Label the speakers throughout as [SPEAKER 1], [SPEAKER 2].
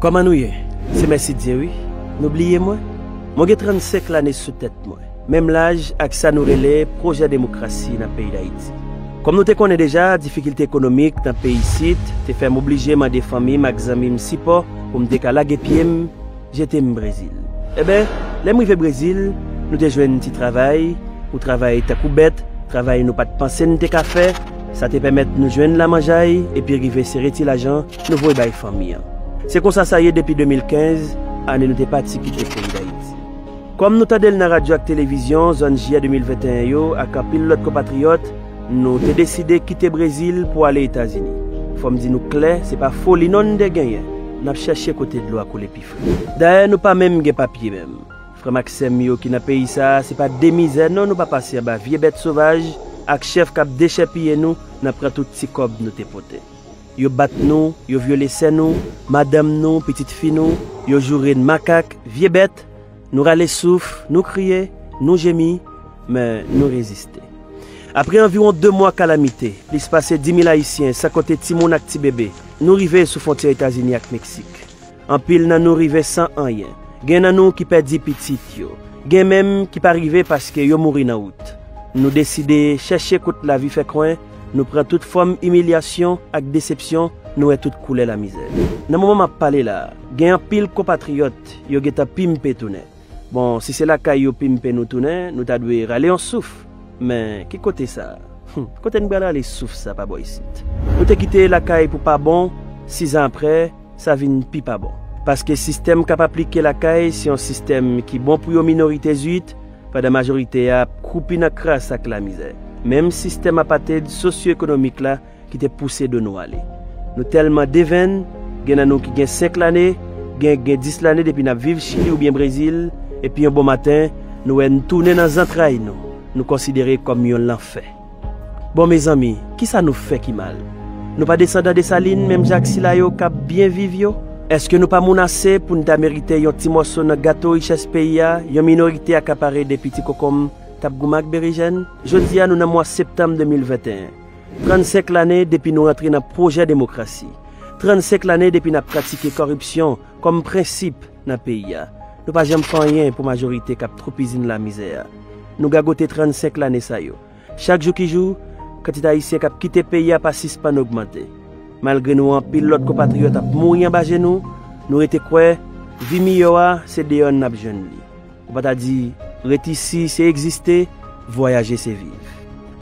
[SPEAKER 1] Kòman nou ye? Se Mèsidye wi. Nou bliye mwen? Mwen gen 35 lane sou tèt mwen, menm laj ak sa nou rele pwojè demokrasi nan peyi Dayiti. Kòm nou te konnen deja, difikilte ekonomik nan peyi isit te fè m oblije mande fanmi m ak zanmi m sipò pou m te ka lage pye m, jete m Brezil. Enben, lè m rive Brezil, nou te jwenn ti travay, ou travay tankou bèt, travay nou pa t panse n te ka fè, sa te pèmèt nou jwenn lamanjay epi rive sere ti lajan, Nou voye bay fanmi an. Se konsa sa ye depi 2015, ane nou te pati kite peyi Dayiti. Kòm nou tande l nan radyo ak televizyon zòn Jiyè 2021 yo ak anpil lòt konpatriyòt, nou te deside kite Brezil pou ale Etazini. Fò m di nou klè, se pa foli non n te genyen, n ap chèche kote dlo a koule pi fre. Dayè nou pa menm gen papye menm. Frè m ak sè m yo ki nan peyi sa a, se pa de mizè non nou pa pase anba vye bèt sovaj ak chèf k ap dechèpiye nou nan pran tout ti kòb nou te pote. Yo bat nou, yo vyole sè nou, madanm nou, pitit fi nou, yo joure n makak, vye bèt, nou rale souf, nou kriye, nou jemi, men nou reziste. Apre anviwon 2 mwa kalamite, plis pase 10 mil Ayisyen, san konte timoun ak ti bebe, nou rive sou fwontyè Etazini ak Meksik. Anpil nan nou rive san anyen. Gen nan nou ki pèdi pitit yo. Gen menm ki pa rive paske yo mouri nan wout. Nou deside chèche kout lavi fè kwen, nou pran tout fòm imilyasyon ak desepsyon, nou wè tout koulè lamizè. Nan moman m ap pale la a, gen anpil konpatriyòt yo gentan pimpe tounen. Bon, si se lakay yo pimpe nou tounen, nou ta dwe rale yon souf. Men, ki kote sa? Hum! Kote n pral rale souf sa pa bò isit? Nou te kite lakay pou pa bon, sizan apre, sa vin pi pa bon. Paske sistèm k ap aplike lakay se yon sistèm ki bon pou yon minorite zuit, pandan majorite a ap kwoupi nan kras ak lamizè. Menm sistèm apartheid sosyoekonomik la ki te pouse do nou ale. Nou tèlman devenn, gen nan nou ki gen 5 lane, gen ki gen 10 lane depi n ap viv Chili oubyen Brezil, epi yon bon maten, nou wè n tounen nan zantray nou, nou konsidere kòm yon lanfè. Bon, mezanmi, kisa nou fè ki mal? Nou pa desandan Desalin menm jan ak sila yo k ap byen viv yo? Èske nou pa moun ase pou n ta merite yon ti mòso nan gato richès peyi a yon minorite akapare depi ti konkonm t ap goumen ak berejèn? Jodi a nou nan mwa septanm 2021. 35 lane depi nou rantre nan pwojè demokrasi, 35 lane depi n ap pratike kòripsyon kòm prensip nan peyi a, nou pa janm fè anyen pou majorite k ap twoupizin'n lamizè a. Nou gagote 35 lane sa yo. Chak jou ki jou, kantite Ayisyen k ap kite peyi a pa sispann ogmante. Malgre nou wè anpil lòt konpatriyòt ap mouri anba je nou, nou rete kwè vi miyò a se deyò n ap jwenn li. Ou pa ta di, Ret isi se egziste, vwayaje se viv.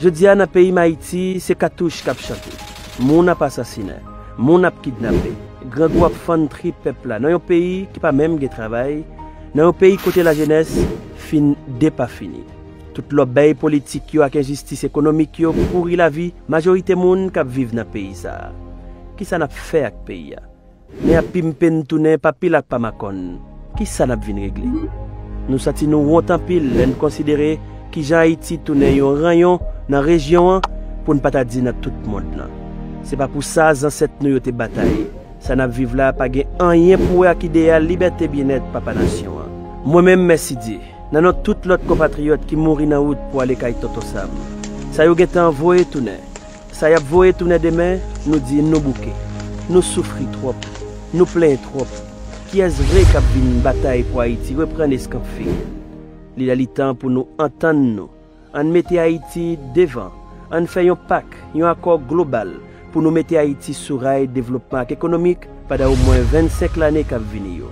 [SPEAKER 1] Jodi a nan peyi m Ayiti, se katouch k ap chante, moun ap asasinen, moun ap kidnape, grangou ap fann trip pèp la nan yon peyi ki pa menm gen travay, nan yon peyi kote lajenès fin depafini. Tout lòbèy politik yo ak enjistis ekonomik yo pouri lavi majorite moun k ap viv nan peyi sa a. Kisa n ap fè ak peyi a? Men ap pimpe n tounen pa pil ak pa makòn. Ki sa n ap vin regle? Nou santi nou wont anpil lè n konsidere ki jan Ayiti tounen yon ranyon nan rejyon an, pou n pa ta di nan tout mond lan. Se pa pou sa zansèt nou yo te batay. Sa n ap viv la pa gen anyen pou wè ak ideyal libète byennèt papa nasyon an. Mwen menm, Mèsidye, nan non tout lòt konpatriyòt ki mouri nan wout pou ale kay Tonton Sam, sa yo gen tan voye tounen, Sa yap voye tounen demen nou di nou bouke nou soufri twòp nou plenyen twòp kiyès vre kap vin batay pou ayiti reprann eskanp fil li lè li tan pou nou antann nou ann mete ayiti devan ann fè yon pak yon akò global pou nou mete ayiti sou ray devlopman ak ekonomik padan omwen 25 lane kap vini yo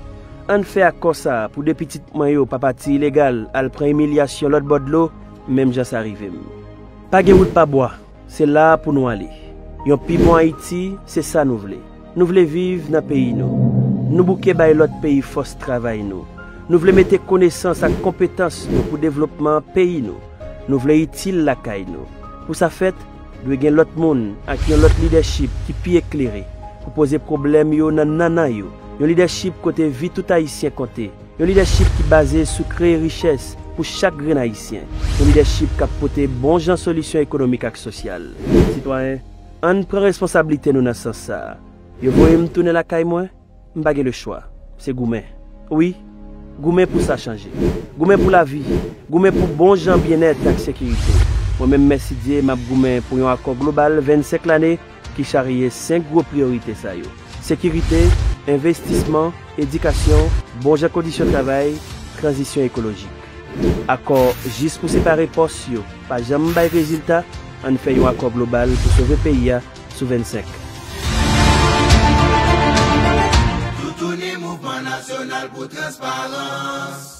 [SPEAKER 1] ann fè akò sa pou 2 pitit mwen yo pa pati ilegal al pran imilyasyon lòt bò dlo menm jan sa rivem. Pa gen wout pa bwa, se la a pou nou ale. Yon pi bon Ayiti, se sa nou vle. Nou vle viv nan peyi nou. Nou bouke bay lòt peyi fòs travay nou. Nou vle mete konesans ak konpetans nou pou devlopman peyi nou. Nou vle itil lakay nou. Pou sa fèt, dwe gen lòt moun ak yon lòt lidèchip ki pi eklere pou poze pwoblèm yo nan nannan yo, yon lidèchip kote vi tout Ayisyen konte. Yon lidèchip ki baze sou kreye richès pou chak grenn Ayisyen. Yon lidèchip k ap pote bon jan solisyon ekonomik ak sosyal. Sitwayen, an n pran responsablite nou nan sans sa a. Yo voye m tounen lakay mwen, m pa gen lechwa. Se goumen. Wi, goumen pou sa chanje. Goumen pou lavi. Goumen pou bon jan byennèt ak sekirite. Mwen menm, mèsidye, m ap goumen pou yon akò global 25 lane ki charye senk gwo priyorite sa yo, sekirite, envestisman, edikasyon, bon jan kondisyon travay, tranzisyon ekolojik. Akò jis pou separe pòs yo pa janm bay rezilta, ann fè yon akò global pou sove peyi a sou 25.
[SPEAKER 2] Toutouni Mouvman Nasyonal pou Transparans!